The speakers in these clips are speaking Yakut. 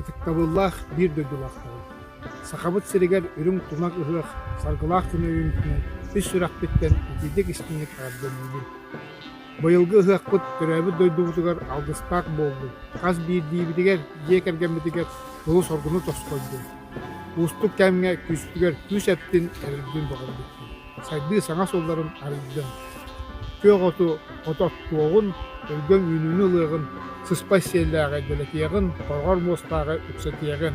Ытыктабыллаах биир дойдулаахтарым! Сахабыт сиригэр үрүҥ тумах ыһыах саргылаах күн өйүҥтэн үс сүрэхпиттэн итирдик истиҥник эҕэрдэлиибин! Быйылгы ыһыахпыт төрөөбүт дойдубутугар алгыстаах буоллун, хас биирдиибитигэр, дьиэ кэргэммитигэр тылы соргуну тосхойдун. Уустук кэмҥэ күүспүгэр күүс эттин эрэрбин бөҕөргүттүм. Сайдыы саҥа суолларын арыйдым. Күөх оту, ото оттуоҕун, өйгөҥ үүнүүнү ылыаҕын, сыспай сиэллээҕи дэлэтиэҕин, хороҕор муостааҕы үксэтиэҕин.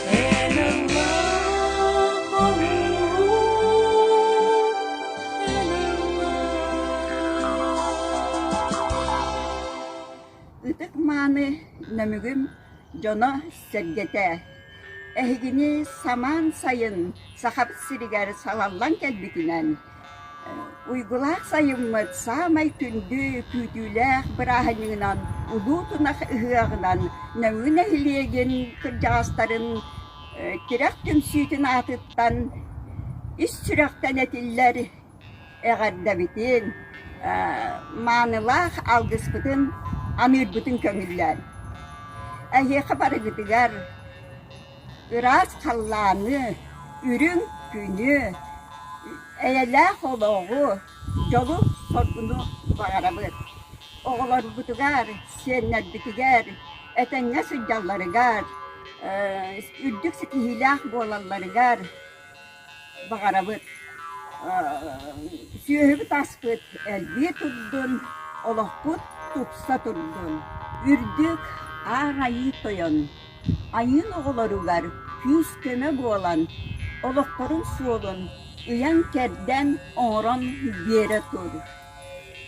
Ытык мааны нөмүгүм дьоно-сэргэтэ, эһигини самаан сайын Сахаб сиригэр салаллан кэлбитинэн Уйгулаах сайыммыт саамай күндү күүтүүлээх бырааһынньыгынан Улуу Тунах ыһыаҕынан Нөҥүө нэһилиэгин кырдьаҕастарын тирэх түмсүүтүн аатыттан ис сүрэхтэн этиллэр эҕэрдэбитин, маанылаах алгыспытын аныырбытын көҥүллээн, эһиэхэ барыгытыгар Ыраас халлааны, үрүҥ күнү, эйэлээх олоҕу, дьолу соргуну баҕарабыт оҕолорбутугар, сиэннэрбитигэр, этэҥҥэ сылдьалларыгар, үрдүк ситиһиилээх буолалларыгар баҕарабыт сүөһүбүт аспыт элбии турдун олохпут тупса турдун үрдүк аар айыы тойон айыын оҕолоругар күүс-көмө буолан олохторун суолун ыйан-кэрдэн оҥорон биэрэ тур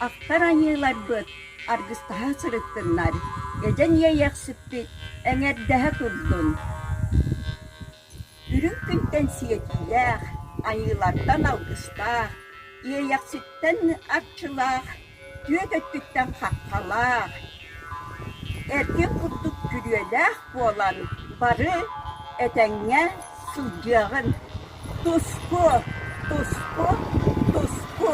ахтар айыыларбыт аргыстаһа сырыттыннар эдьэн иэйэхсиппит эҥэрдэһэ турдун Үрүҥ күнтэн сиэтиилээх, айыылартан алгыстаах, иэйэхситтэн арчылаах, түөт өттүттэн хаххалаах, эргин курдук күрүөлээх буолан бары этэҥҥэ сылдьыаҕын. Туску, туску, туску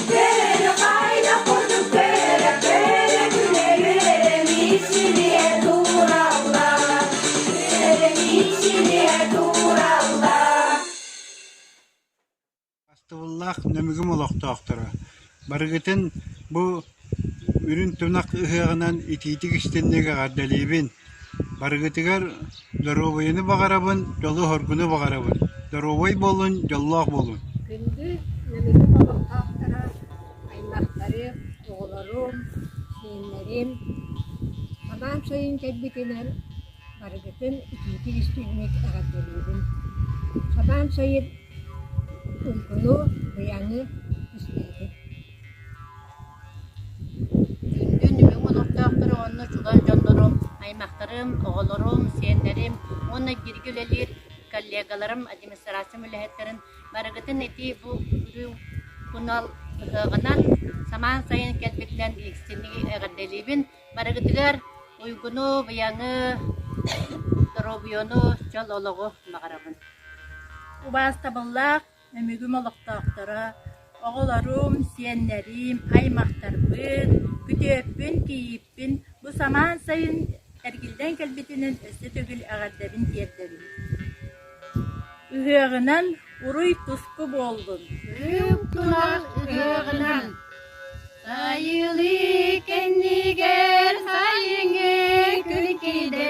Бастыбыллаах Нөмүгүм олохтоохторо, барыгытын бу үрүн-тунах ыһыаҕынан итиитик-истинник эҕэрдэлиибин! Барыгытыгар доруобуйаны баҕарабын, дьолу-соргуну баҕарабын, доруобай буолуҥ, дьоллоох буолуҥ! Күндү Нөмүгү олохтоохторо, аймахтарым, оҕолорум, сиэннэрим! Хабаан сайын кэлбитинэн барыгытын итиитик-истиҥник эҕэрдэлиибин! Хабаан сайын уйгуну, быйаҥы истээтим. Күндү нүһүҥ олохтоохтору уонна чугас дьоннору, аймахтарым, оҕолорум, сиэннэрим уонна бииргэ үлэлиир коллегаларым, администрациям үлэһиттэрин барыгытын итии бу үрүҥ тунал ыһыаҕынан самаан сайын кэлбитинэн истиҥник эҕэрдэлиибин. Барыгытыгар уйгуну, быйаҥы, доруобуйаны, дьол олоҕу баҕарабын. Убаастабыллаах Өмүгүм олохтоохторо, оҕолорум, сиэннэрим, аймахтарбыт, күтүөппүн-кийииппин бу самаан сайын эргиллэн кэлбитинэн өссө төгүл эҕэрдэбин тиэрдэбин. Ыһыаҕынан уруй-туску буоллун! Үп тунар ыһыаҕынан Сайылыы кэннигэр сайыҥҥы күн киинэ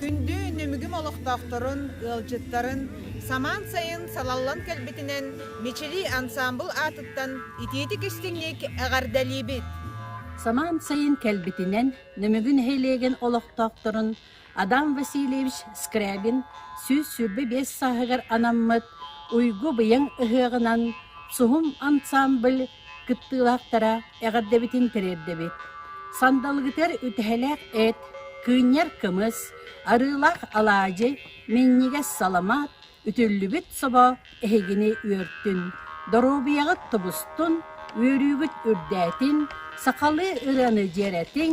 Күндү Нүмүгүм олохтоохторун, ыалдьыттарын самаан сайын салаллан кэлбитинэн Мичилии ансаамбыл аатыттан итиитик-истиҥник эҕэрдэлиибит! Самаан сайын кэлбитинэн Нүмүгү нэһилиэгин олохтоохторун Адам Васильевич Скрябин сүүс сүүрбэ биэс сааһыгар анаммыт Уйгу-быйаҥ ыһыаҕынан Суһум ансаамбыл кыттыылаахтара эҕэрдэбитин тириэрдэбит. Сандалыгытыгар үтэһэлээх эт, кыынньар кымыс, арыылаах алаадьы, минньигэс саламаат, үтүллүбүт собо эһигини үөртүн, доруобуйаҕыт тубустун, үөрүүгүт үрдээтин, сахалыы ырыаны дьиэрэтиҥ,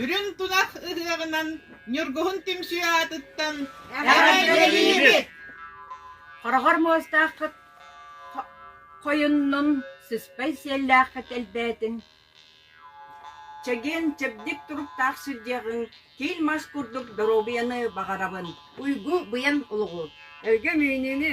Үрүҥ тунах ыһыаҕынан Ньургуһун түмсүү аатыттан Эҕэрдэлиибит! Хороҕор муостааххыт хойуннун, сыспай сиэллээххит элбээтин, чэгиэн чэбдик туруктаах сирдиэҕиҥ киил мас курдук доруобуйаны баҕарабын. Уйгу, быйан олоҕу, өргөм үүнүүнү,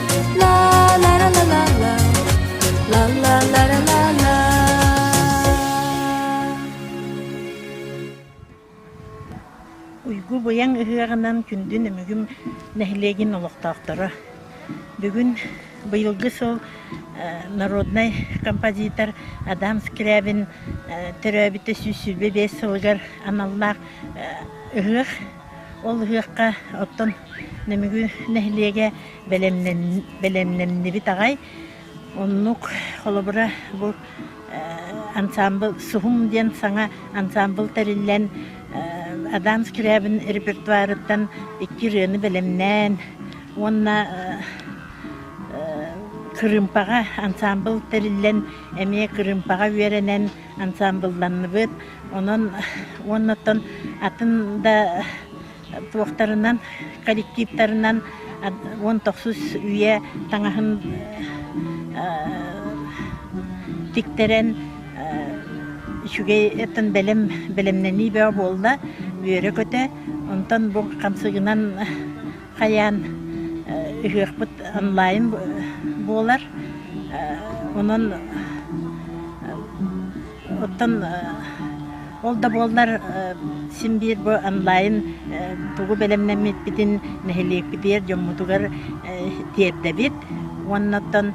Уйгу быйаҥ ыһыаҕынан күндү Нөмүгүм нэһилиэгин олохтоохторо. Бүгүн быйылгы сыл народнай композитор Адам Скрябин төрөөбүтэ сүүс сүүрбэ биэс сылыгар аналлаах ыһыах Ол ыһыахха оттон Нөмүгү нэһилиэгэ бэлэмнэннибит аҕай. Оннук, холобура, бу ансаамбыл Суһум диэн саҥа ансаамбыл тэриллэн, Адам Скрябин репертуарыттан икки ырыаны бэлэмнээн уонна Кырыымпаҕа ансаамбыл тэриллэн, эмиэ Кырыымпаҕа үөрэнэн ансаамбылланныбыт. Онон уоннаттан атын да туохтарынан, коллективтарынан уон тохсус үйэ таҥаһын тиктэрэн үчүгэй этэн бэлэм бэлэмнэнии бөҕө буолла үөрэ-көтө онтон бу хамсыгынан хайаан ыһыахпыт онлайн буолар онон оттон ол да буоллар син биир бу онлайн тугу бэлэмнэммиппитин нэһилиэкпитигэр дьоммутугар тиэрдэбит уонна оттон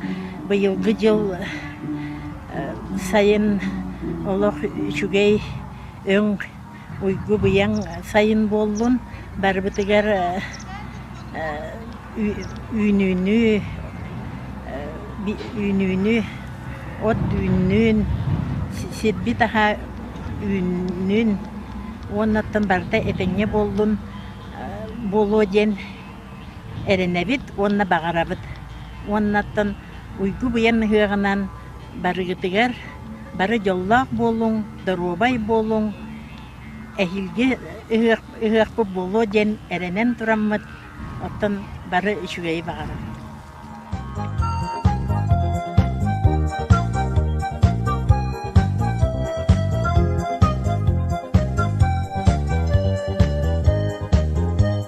быйылгы дьыл сайын олох үчүгэй өҥ уйгу-быйаҥ сайын буоллун, барыбытыгар үүнүүнү үүнүүнү от үүннүн, сирбит аһа үүннүн уоннаттан барыта этэҥҥэ буоллун буолуо диэн эрэнэбит уонна баҕарабыт. Уоннаттан уйгу-быйаҥ ыһыаҕынан Барыгытыгар бары дьоллоох буолуҥ, доруобай буолуҥ, эһиилги ыһыахпыт буолуо диэн эрэнэн тураммыт, оттон бары үчүгэйи баҕарар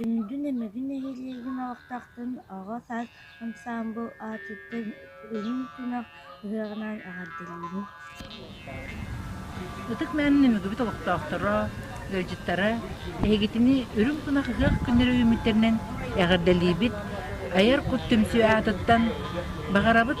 Күндү Нөмүгү нэһилиэгин олохтоохтун оҕо саас ансаамбыл аатыттан Үрүҥ Тунах ыһыаҕынан эҕэрдэлиибин! Ытык Мээн Нөмүгүбүт олохтоохторо, ыалдьыттара эһигитини Үрүҥ Тунах ыһыах күннэрэ үүммүттэринэн эҕэрдэлиибит! Айар Кут түмсүү аатыттан баҕарабыт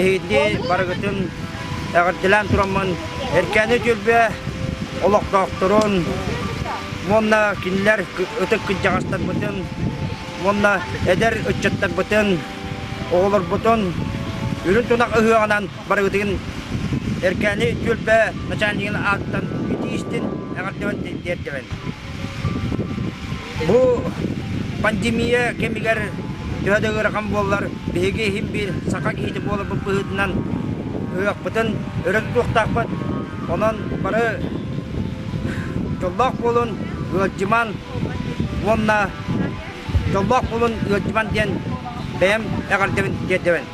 Эһиги барыгытын эҕэрдэлээн тураммын Эркээни Дьөлбө олохтоохторун уонна кинилэр ытык кырдьаҕастарбытын уонна эдэр ыччаттарбытын, оҕолорбутун үрүн тунах ыһыаҕынан барыгытын Эркээни Дьөлбө начальнигын ааттан итии истин эҕэрдэбин тиэрдэбин. Бу пандемия кэмигэр төһө да ыарахан буоллар, биһиги иһин-биир саха киһитэ буоларбыт быһыытынан ыһыахпытын өрө тутуохтаахпыт. Онон бары дьоллоох буолун, ыалдьыман уонна дьоллоох буолун ыалдьыман диэн бэйэм эҕэрдэбин тиэрдэбин.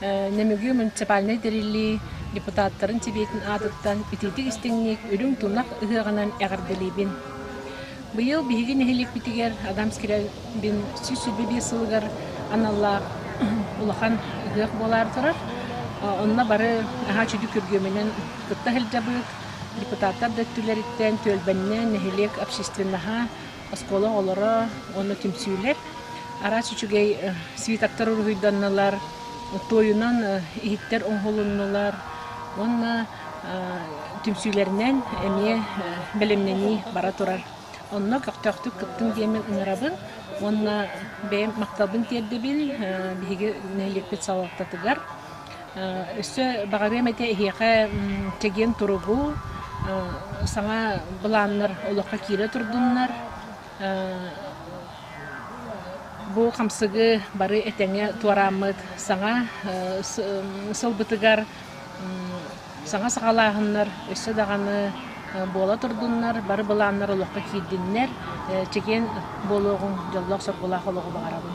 Нөмүгү муниципальнай тэриллии депутаттарын Сэбиэтин аатыттан итиитик истиҥник Үрүҥ тунах ыһыаҕынан эҕэрдэлиибин. Быйыл биһиги нэһилиэкпитигэр Адамский райбин сүүс сүүрбэ биир сылыгар аналлаах улахан ыһыах буолаар турар. Онно бары аhaa сүдү күргүөмүнэн кытта сылдьабыт. Депутаттар да өттүлэриттэн түөлбэннээн нэһилиэк общественноһа оскуола оҕолоро уонна түмсүүлэр араас үчүгэй свитоктар уруһуйданнылар, туойунан иһиттэр оҥоһулуннулар уонна түмсүүлэринэн эмиэ бэлэмнэнии бара турар. Онно көхтөөхтүк кыттын диэммин ыҥырабын уонна бэйэм махталбын тиэрдэбин биһиги нэһилиэкпит салалтатыгар. Өссө баҕарыам этэ эһиэхэ чэгиэн туругу, саҥа былааннар олоххо киирэ турдуннар. Бу хамсыгы бары этэҥҥэ туорааммыт саҥа сылбытыгар саҥа саҕалааһыннар өссө даҕаны буола турдуннар, бары былааннар олоххо киирдиннэр, чэгиэн буолуоҕуҥ, дьоллоох-соргулаах олоҕу баҕарабын.